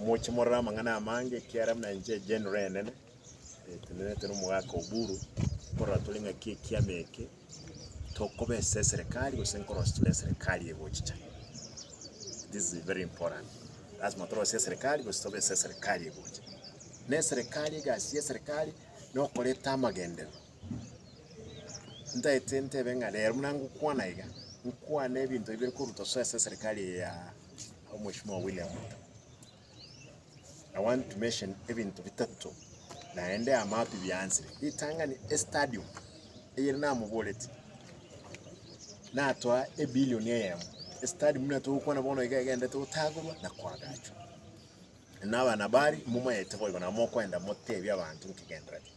Moche morore amang'ana amange, ekiara buna inche egenro enene etenenete n'omogaka Oburu, nkorora tore ng'aki ekiama eke tokoba ase eserekari gose nkorosia tore eserekari egochicha. This is very important. Lasima torosie eserekari gose tobe ase eserekari egocha. Na eserekari egasi y'eserekari nokoreta amagenderero. Ntaete ntebe ng'a rero buna ngokwana iga, nkwane ebinto ebi biri koruta soa ase eserekari eye ya. Our Mheshimiwa William Ruto. I want to mention ebinto bitato naende amato biansire ritang'ani estadium eyere namoboreti natoa ebilioni eyemo estadium buna togokwana bono iga egendete gotagorwa na koagachwa na abanabari momayete boigo nabo mokoenda motebie abanto nkigenderete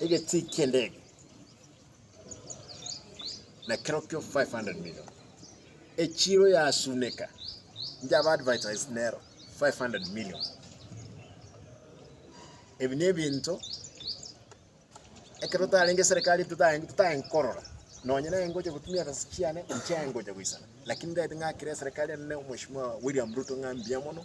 Egetii ki'endege nekero kio 500 million. Echiro yasuneka inche aba advertise nero 500 million. Ebi nebinto ekero tarenge serikali totaen totaen korora nonye naye ngocha gotumia ebesa chiane inche ngocha goisana lakini ndagete ng'akere eserikari enene mheshimiwa William Ruto ng'a mbuya mono.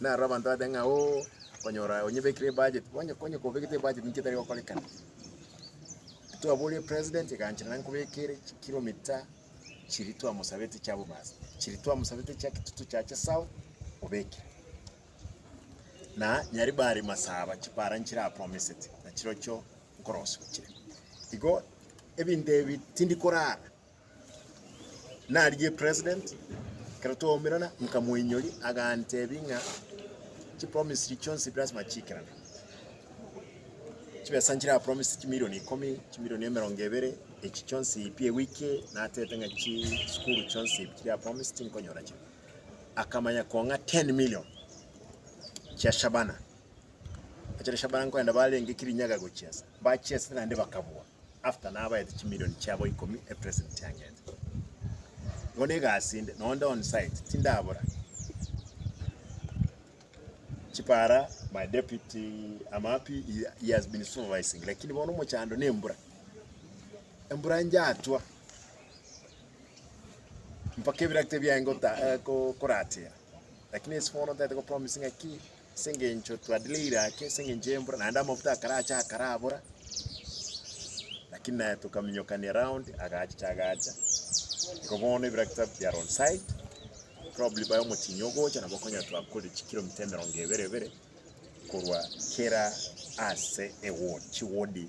Na aro abanto bateba ng'a, Oo, konyora onyebekire ebudget. Onye onye kobekete ebudget ninki etari gokorekana? Twaboria president ekanchera naye nkobekere chikilometer chiria twamosabete chia Bomas, chiria twamosabete chia Kitutu chiache south obekere. Na Nyaribari Masaba chipara nchire apromisete, na chirochio nkorosia ochire. Igo ebinto ebi tindi korara. Narigie president, ekero twaumerana nkamoinyoria, agantebia ng'a chipromise chiria chionsi lasima chiikerane. Chibesa nchira promise chimilioni ikomi, chimilioni emerongo ebere, echi chionsi pi ewiki natete ng'a chisukuru chionsi pi chiria promise tinkonyora chire. Akamanya kong'a ten million chia Shabana, echire Shabana nkoenda barenge Kirinyaga gochiesa, bachiesire naende bakabua. after nabaete chimilioni chiabo ikomi epresent yangete. Igo ne egasi inde, nonye nde onsite tindabora. Chipara my deputy Amapi he, he has been supervising lakini bono omochando ne embura. Embura njatwa mpaka ebirakita biaye ngota eh, ko- koratera lakini ase bono ntaete kopromise ng'aki Ase engencho twadiire eiraki ase engencho y'embura, naende amafuta akaracha akarabora, lakini naye tokaminyokania round, agachicha agacha. Igo bono ebiraki twabekire are on site, probably baye omochie ogocha nabo konya twakorire chikilomita emerongo ebere ebere korwa kera ase ewodi, chiwodi.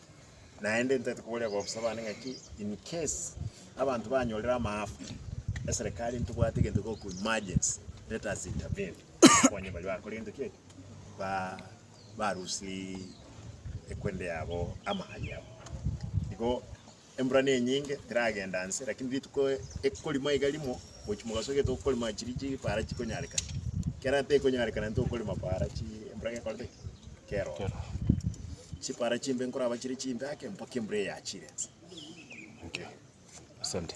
Naende ntagete koboria abaofisa bane ng'aki in case abanto banyorire amaafa, eserekari ntibwate egento goku emergency, let us intervene tokonye baria bakorente ki? Ba- barusirie ekwende yabo, amagari yabo. Igo Embura nenyinge, teragenda nse, lakini rituko ekorimo iga rimo, mochi mogasokia tokorima chiri chipara chikonyarekana. Kera tekonyarekana ntokorima para chi embura gekorete ki? Keroro. Chipara chimbe nkoraba chire chimbe ake mpaka embura eyachire nse. Okay. Asante.